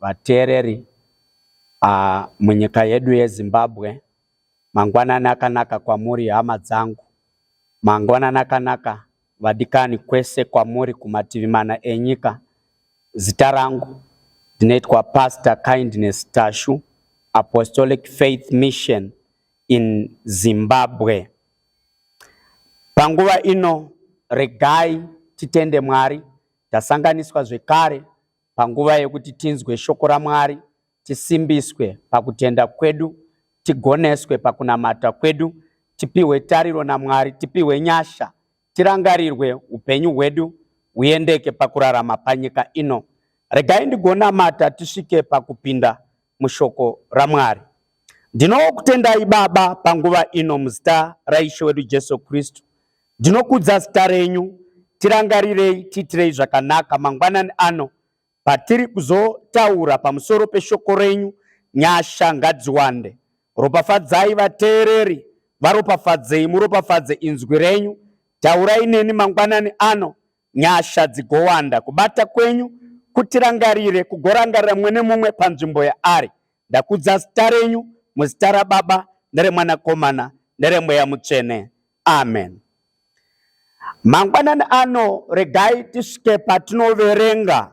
Vateereri uh, munyika yedu yeZimbabwe, mangwanani akanaka kwamuri hama dzangu, mangwanani akanaka vadikani kwese kwamuri kumativi mana enyika. Zita rangu ndinoitwa Pastor Kindness Tashu, Apostolic Faith Mission in Zimbabwe. Panguva ino regai titende Mwari tasanganiswa zvekare Panguva yekuti tinzwe shoko raMwari, tisimbiswe pakutenda kwedu, tigoneswe pakunamata kwedu, tipihwe tariro naMwari, tipihwe nyasha, tirangarirwe upenyu hwedu huyendeke pakurarama panyika ino. Regai ndigonamata tisvike pakupinda mushoko raMwari. Ndinokutendai Baba panguva ino muzita raIshe wedu Jesu Kristu. Ndinokudza zita renyu, tirangarirei, tiitirei zvakanaka mangwanani ano patiri kuzotaura pamusoro peshoko renyu. Nyasha ngadziwande, ropafadzai vateereri, varopafadzei, muropafadze inzwi renyu. Taurai neni mangwanani ano, Nyasha dzigowanda kubata kwenyu kutirangarire kugorangarira mumwe nemumwe panzvimbo yaari. Ndakudza zita renyu muzita raBaba neremwanakomana neremweya mutsvene. Amen. Mangwanani ano regai tisvike patinoverenga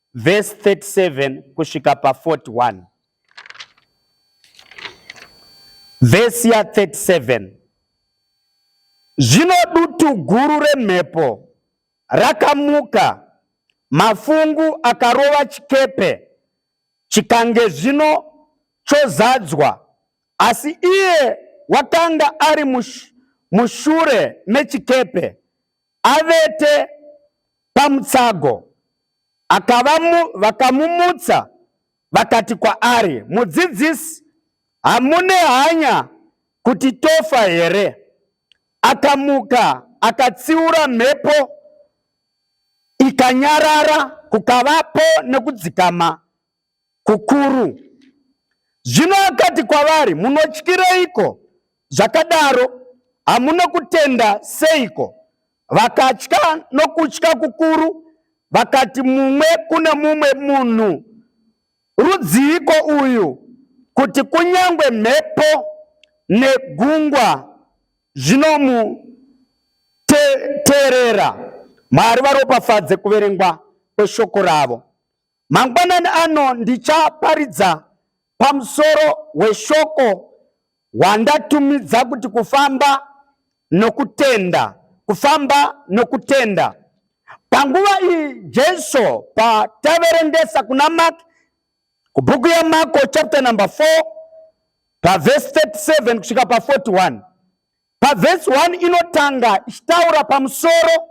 Verse 37 kusvika pa 41. Verse ya 37. Zvino dutu guru remhepo rakamuka, mafungu akarova chikepe, chikange zvino chozadzwa, asi iye wakanga ari mushure mechikepe avete pamutsago akavamu, vakamumutsa vakati kwaari, Mudzidzisi, hamune hanya kuti tofa here? Akamuka akatsiura mhepo ikanyarara, kukavapo nekudzikama kukuru. Zvino akati kwavari, Munotyireiko zvakadaro? Hamuna kutenda seiko? Vakatya nokutya kukuru, vakati mumwe kune mumwe munhu, Rudziiko uyu, kuti kunyange mhepo negungwa zvinomuteerera? Mwari varopafadze kuverengwa kweshoko ravo. Mangwanani ano ndichaparidza pamusoro weshoko wandatumidza kuti kufamba nokutenda, kufamba nokutenda. Panguva iyi Jesu pataverengesa kuna Mark kubhuku yaMarko chapter number 4 pavhesi 37 kusvika pa 41 Pavhesi 1 inotanga ichitaura pamusoro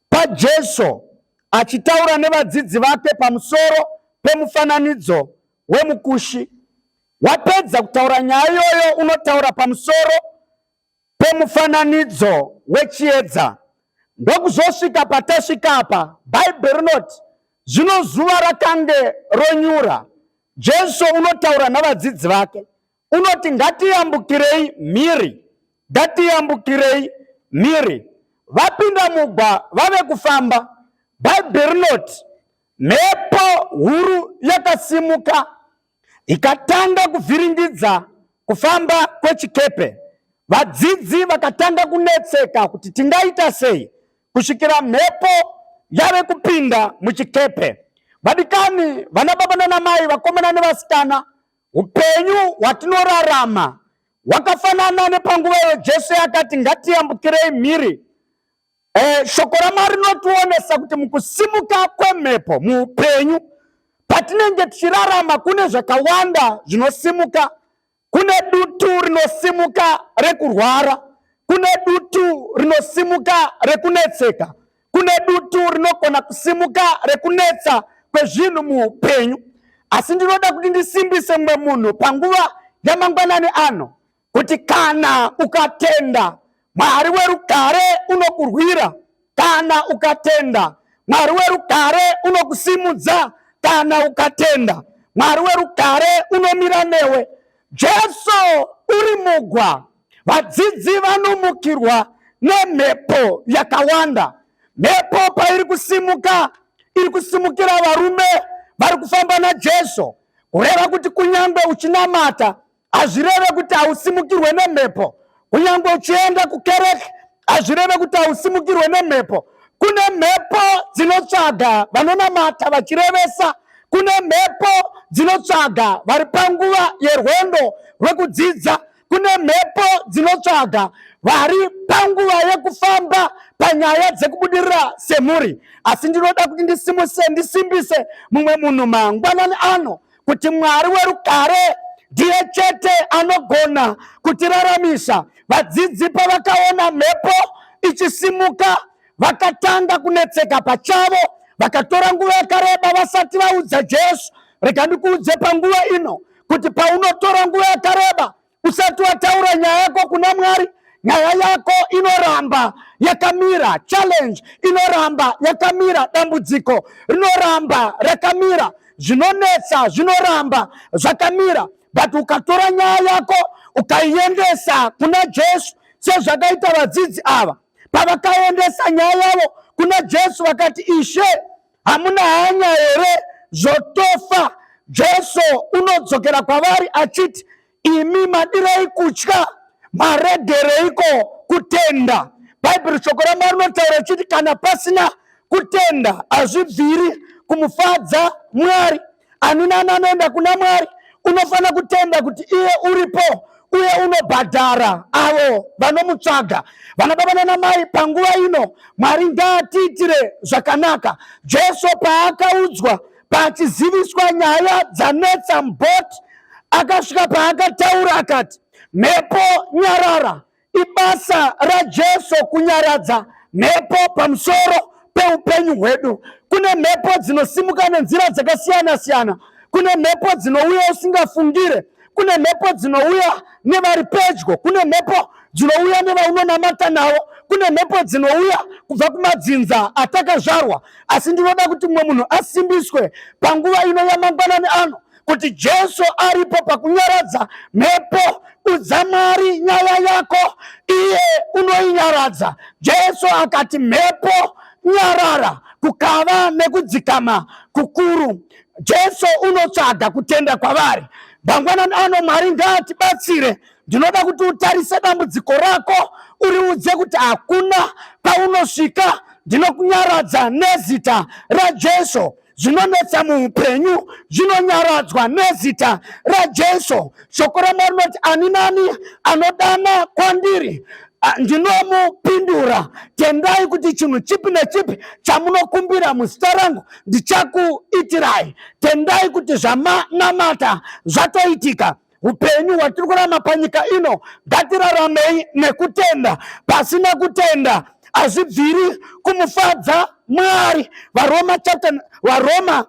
paJesu achitaura nevadzidzi vake pamusoro pemufananidzo wemukushi. Wapedza kutaura nyaya iyoyo, unotaura pamusoro pemufananidzo wechiedza. Ndokuzosvika patasvika apa, Bhaibheri rinoti zvino zuva rakange ronyura. Jesu unotaura navadzidzi vake unoti ngatiyambukirei mhiri ngatiyambukirei mhiri vapinda mugwa vave kufamba bhaibheri rinoti mhepo huru yakasimuka ikatanga kuvhiringidza kufamba kwechikepe vadzidzi vakatanga kunetseka kuti tingaita sei kusvikira mhepo yave kupinda muchikepe vadikani vana baba nana mai vakomana nevasikana Upenyu hwatinorarama hwakafanana nepanguva iyo Jesu yakati ngatiyambukirei mhiri. E, shoko raMwari rinotionesa kuti mukusimuka kwemhepo muupenyu, patinenge tichirarama kune zvakawanda zvinosimuka. Kune dutu rinosimuka rekurwara, kune dutu rinosimuka rekunetseka, Kune dutu rinogona kusimuka rekunetsa kwezvinhu muupenyu, asi ndinoda kuti ndisimbise mumwe munhu panguva yamangwanani ano kuti kana ukatenda Mwari werugare unokurwira, kana ukatenda Mwari werugare unokusimudza, kana ukatenda Mwari werugare unomira newe. Jesu uri mugwa. Vadzidzi vanomukirwa nemhepo yakawanda. Mhepo pairi kusimuka, iri kusimukira varume vari kufamba naJesu, kureva kuti kunyange uchinamata hazvireve kuti hausimukirwe nemhepo, kunyange uchienda kukereke hazvireve kuti hausimukirwe nemhepo. Kune mhepo dzinotsvaga vanonamata vachirevesa kune mhepo dzinotsvaga vari panguva yerwendo rwekudzidza kune mhepo dzinotsvaga vari panguva yekufamba panyaya dzekubudirira semhuri asi ndinoda kuti ndisimuse ndisimbise mumwe munhu mangwanani ano kuti mwari werugare ndiye chete anogona kutiraramisa vadzidzi pavakaona mhepo ichisimuka vakatanga kunetseka pachavo vakatora nguva yakareba vasati vaudza jesu rega ndikuudze panguva ino kuti paunotora nguva yakareba usati wataura nyaya yako kuna mwari nyaya yako inoramba yakamira challenge inoramba yakamira dambudziko rinoramba rakamira zvinonetsa zvinoramba zvakamira but ukatora nyaya yako ukaiendesa kuna jesu sezvakaita vadzidzi ava pavakaendesa nyaya yavo kuna jesu vakati ishe hamuna hanya here zvotofa jesu unodzokera kwavari achiti imi madirei kutya maregereiko kutenda bhaibheri shoko ramwari rinotaura richiti kana pasina kutenda hazvibviri kumufadza mwari ani nani anoenda kuna mwari unofanira kutenda kuti iye uripo uye unobhadhara avo vanomutsvaga vanababa nanamai panguva ino mwari ngaatiitire zvakanaka jesu paakaudzwa pachiziviswa nyaya dzanetsa mboti akasvika paakataura akati mhepo nyarara Ibasa raJesu kunyaradza mhepo pamusoro peupenyu hwedu. Kune mhepo dzinosimuka nenzira dzakasiyana siyana. Kune mhepo dzinouya usingafungire. Kune mhepo dzinouya nevari pedyo. Kune mhepo dzinouya nevaunonamata navo. Kune mhepo dzinouya kubva kumadzinza atakazvarwa. Asi ndinoda kuti mumwe munhu asimbiswe panguva ino yamangwanani ano kuti Jesu aripo pakunyaradza mhepo. Udza Mwari nyaya yako, iye unoinyaradza. Jesu akati, mhepo nyarara, kukava nekudzikama kukuru. Jesu unotsvaga kutenda kwavari. Mangwanani ano Mwari ngaatibatsire. Ndinoda kuti utarise dambudziko rako, uriudze kuti hakuna paunosvika ndinokunyaradza nezita raJesu. zvinonetsa muupenyu zvinonyaradzwa nezita raJesu. Shoko raMwari rinoti ani nani anodana kwandiri Ah, ndinomupindura tendai kuti chinhu chipi nechipi chamunokumbira muzita rangu ndichakuitirai tendai kuti zvamanamata zvatoitika upenyu hwatiri kurama panyika ino ngatiraramei nekutenda pasina kutenda hazvibviri kumufadza mwari varoma chapter varoma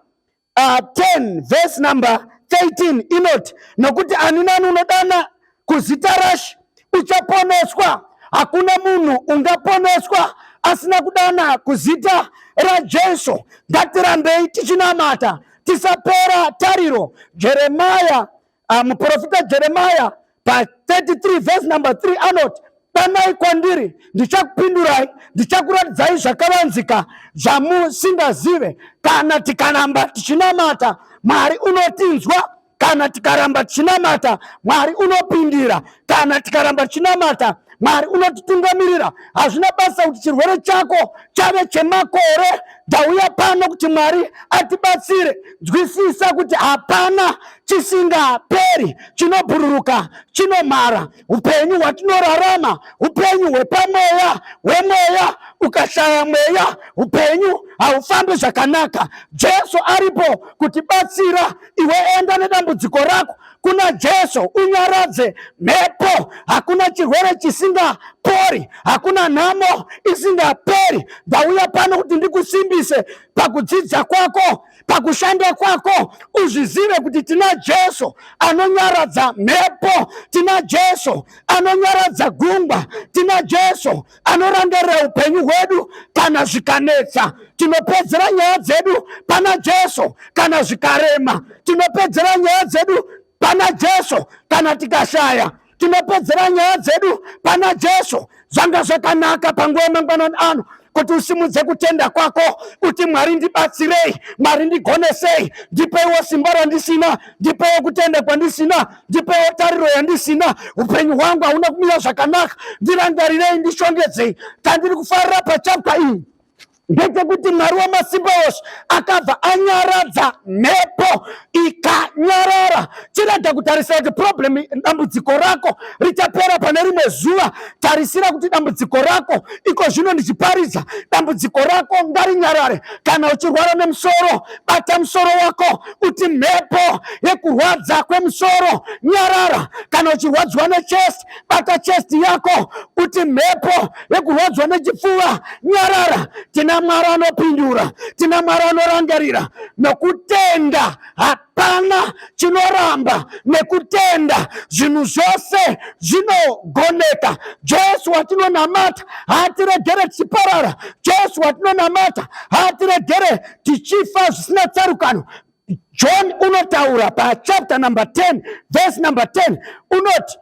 uh, 10 verse number 13 inoti nokuti ani nani unodana kuzita rashe uchaponeswa. Hakuna munhu ungaponeswa asina kudana kuzita raJesu. Ngatirambei tichinamata, tisapera tariro. Jeremaya, uh, muprofita Jeremaya pa 33 verse number 3 anoti danai kwandiri ndichakupindurai ndichakuratidzai zvakavanzika zvamusingazive kana tikanamba tichinamata mwari unotinzwa kana tikaramba tichinamata mwari unopindira kana tikaramba tichinamata mwari unotitungamirira hazvina basa kuti chirwere chako chave chemakore ndauya pano kuti mwari atibatsire nzwisisa kuti hapana chisingaperi chinobhururuka chinomhara upenyu hwatinorarama upenyu hwepamweya hwemweya ukashaya mweya upenyu haufambi zvakanaka jesu aripo kutibatsira iwe enda nedambudziko rako kuna jesu unyaradze mhepo hakuna chirwere chisingapori hakuna nhamo isingaperi ndauya pano kuti ndikusimbise pakudzidza kwako pakushanda kwako uzvizive kuti tina jesu anonyaradza mhepo tina jesu anonyaradza gungwa tina jesu anorangarira upenyu hwedu kana zvikanetsa tinopedzera nyaya dzedu pana jesu kana zvikarema tinopedzera nyaya dzedu pana jesu kana tikashaya tinopedzera nyaya dzedu pana jesu zvanga zvakanaka panguva yemangwanani ano kuti usimudze kutenda kwako kuti mwari ndibatsirei mwari ndigonesei ndipeiwo simba randisina ndipeiwo kutenda kwandisina ndipeiwo tariro yandisina upenyu hwangu hauna kumira zvakanaka ndirangarirei ndishongedzei tandiri kufarira pachapwa iyi ndechekuti mwari wamasimba ose akabva anyaradza mhepo ikanyarara chirega kutarisira kuti problem dambudziko rako richapera pane rimwe zuva tarisira kuti dambudziko rako iko zvino ndichiparidza dambudziko rako ngarinyarare kana uchirwara nemusoro bata musoro wako kuti mhepo yekurwadza kwemusoro nyarara kana uchirwadziwa nechest bata chest yako uti mhepo yekurwadzwa nechipfuva nyarara tina mwari anopindura tina mwari anorangarira nokutenda hapana chinoramba nekutenda zvinhu zvose zvinogoneka jesu watinonamata haatiregere tichiparara jesu watinonamata haatiregere tichifa zvisina tsarukano John unotaura pachapter number 10 verse number 10 unoti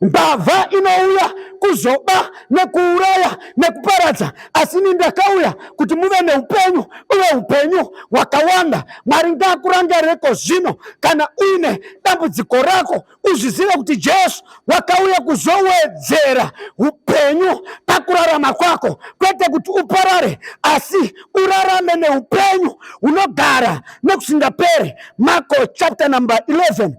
mbavha inouya kuzoba nekuuraya nekuparadza asi ini ndakauya kuti muve neupenyu uye upenyu hwakawanda mwari ngakurangarireko zvino kana uine dambudziko rako uzvizive kuti jesu wakauya kuzowedzera upenyu pakurarama kwako kwete kuti uparare asi urarame neupenyu hunogara nekusingaperi marko chapter number 11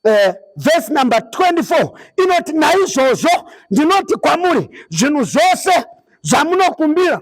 Eh, vhesi uh, number 24 inoti naizvozvo ndinoti kwamuri zvinhu zvose zvamunokumbira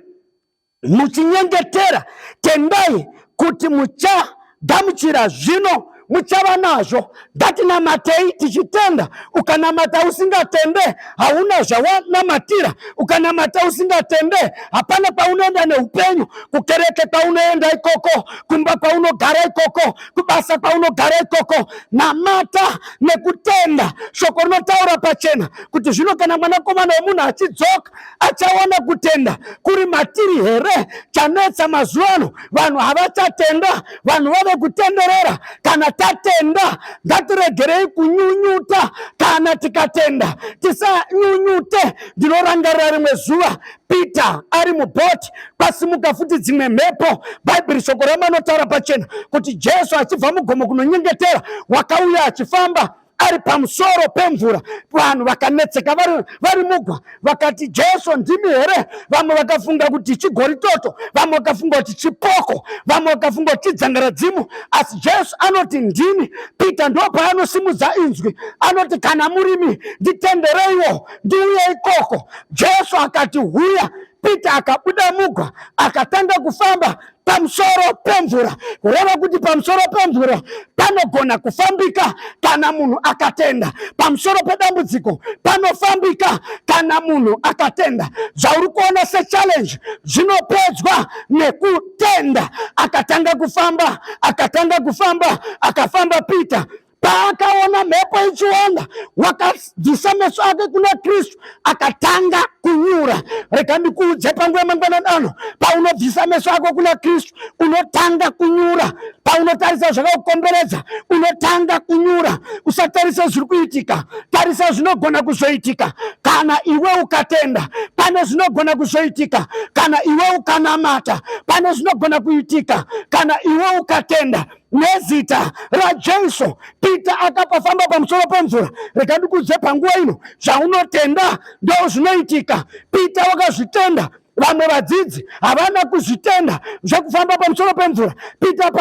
muchinyengetera, tendai kuti muchagamuchira zvino muchava nazvo. Ngatinamatei tichitenda. Ukanamata usingatende, hauna zvawanamatira. Ukanamata usingatende, hapana kwaunoenda neupenyu. Kukereke kwaunoenda ikoko, kumba kwaunogara ikoko, kubasa kwaunogara ikoko. Namata nekutenda. Shoko rinotaura pachena kuti zvino kana mwanakomana wemunhu achidzoka achaona kutenda kuri matiri here chanetsa mazuva ano vanhu havachatenda vanhu vave kutenderera kana tatenda ngatiregerei kunyunyuta kana tikatenda tisanyunyute ndinorangarira rimwe zuva peter ari muboti kwasimuka futi dzimwe mhepo bhaibheri shoko ramanotaura pachena kuti jesu achibva mugomo kunonyengetera wakauya achifamba ari pamusoro pemvura vanhu vakanetseka vari mugwa vakati jesu ndimi here vamwe vakafunga kuti chigori toto vamwe vakafunga kuti chipoko vamwe vakafunga kuti chidzangaradzimu asi jesu anoti ndini peter ndo paanosimudza inzwi anoti kana murimi nditendereiwo ndiuye ikoko jesu akati huya peter akabuda mugwa akatanga kufamba pamusoro pemvura kureva kuti pamusoro pemvura panogona kufambika kana munhu akatenda pamusoro pedambudziko panofambika kana munhu akatenda zvauri kuona sechallenge zvinopedzwa nekutenda akatanga kufamba akatanga kufamba akafamba peter paakaona mhepo ichiwanda wakadzisa meso ake kuna kristu akatanga kunyura rega ndikuudze panguva yemangwanani ano paunobvisa meso ako kuna kristu unotanga kunyura paunotarisa zvakakukomberedza unotanga kunyura usatarisa zviri kuitika tarisa zvinogona kuzoitika kana iwe ukatenda pane zvinogona kuzoitika kana iwe ukanamata pane zvinogona kuitika kana iwe ukatenda nezita raJesu Peter akapafamba pamusoro pemvura rega ndikudze panguva ino zvaunotenda ndo zvinoitika Peter wakazvitenda vamwe vadzidzi havana kuzvitenda zvekufamba pamusoro pemvura peter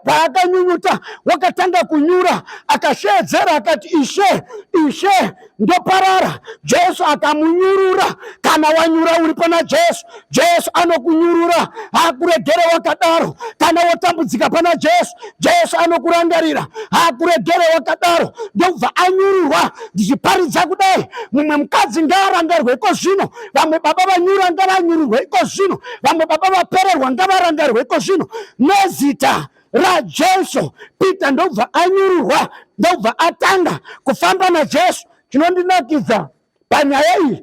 paakanyunyuta wakatanga kunyura akasheedzera akati ishe ishe ndoparara jesu akamunyurura kana wanyura uri pana jesu jesu anokunyurura hakuregere wakadaro kana wotambudzika pana jesu jesu anokurangarira hakuregere wakadaro ndobva anyururwa ndichiparidza kudai mumwe mukadzi ngaarangarwe iko zvino vamwe baba vanyura ngavanyururwe iko zvino vamwe baba vapererwa ngavarangarwe iko zvino nezita raJesu, Peter ndobva anyururwa, ndobva atanga kufamba naJesu. Chinondinakidza panyaya iyi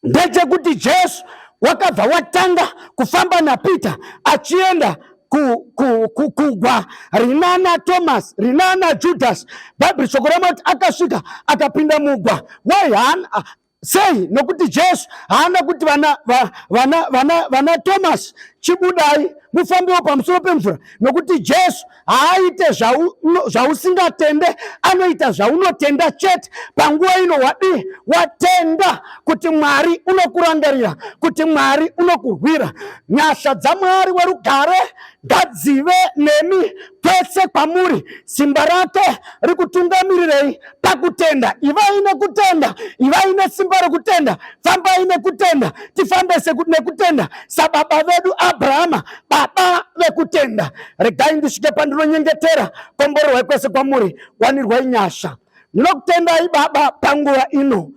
ndechekuti Jesu wakabva watanga kufamba naPeter achienda kugwa rinana thomas rinana judas bhaibheri shoko ramuti akasvika akapinda mugwa why sei nokuti jesu haana kuti vana, vana, vana, vana thomas chibudai mufambiwo pamusoro pemvura nokuti jesu haaite zvausingatende zva anoita zvaunotenda chete panguva ino wadii watenda kuti mwari unokurangarira kuti mwari unokurwira nyasha dzamwari werugare ngadzive nemi pese kwamuri simba rake rikutungamirirei pakutenda ivai nekutenda ivai nesimba rekutenda fambai nekutenda tifambe nekutenda sababa vedu abrahama baba vekutenda regai ndisvike pandinonyengetera komborerwai kwese kwamuri wanirwai nyasha ndinokutendai baba panguva ino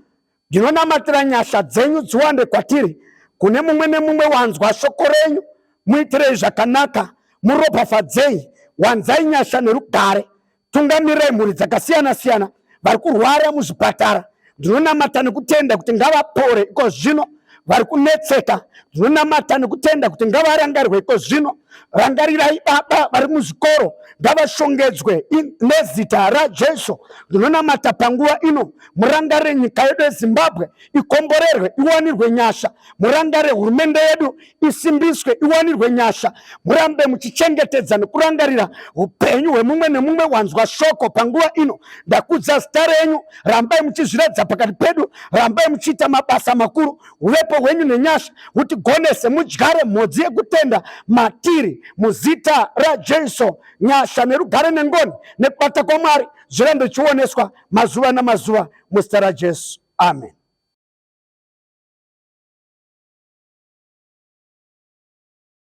Ndinonamatira nyasha dzenyu dziwande kwatiri, kune mumwe nemumwe wanzwa shoko renyu, muitirei zvakanaka, muropafadzei, wanzai nyasha nerugare, tungamirai mhuri dzakasiyana siyana vari kurwara muzvipatara. Ndinonamata nekutenda kuti ngavapore iko zvino vari kunetseka ndinonamata nekutenda kuti ngavarangarirwe iko zvino rangarirai baba vari muzvikoro ngavashongedzwe nezita rajesu ndinonamata panguva ino murangare nyika yedu yezimbabwe ikomborerwe iwanirwe nyasha murangare hurumende yedu isimbiswe iwanirwe nyasha murambe muchichengetedza nekurangarira upenyu hwemumwe nemumwe wanzwa shoko panguva ino ndakudza zita renyu rambai muchizviratidza pakati pedu rambai muchiita mabasa makuru uvepo hwenyu nenyasha hutigonese mudyare mhodzi yekutenda matiri muzita rajesu nyasha nerugare nengoni nekubata kwamwari zvirambe chioneswa mazuva namazuva muzita rajesu amen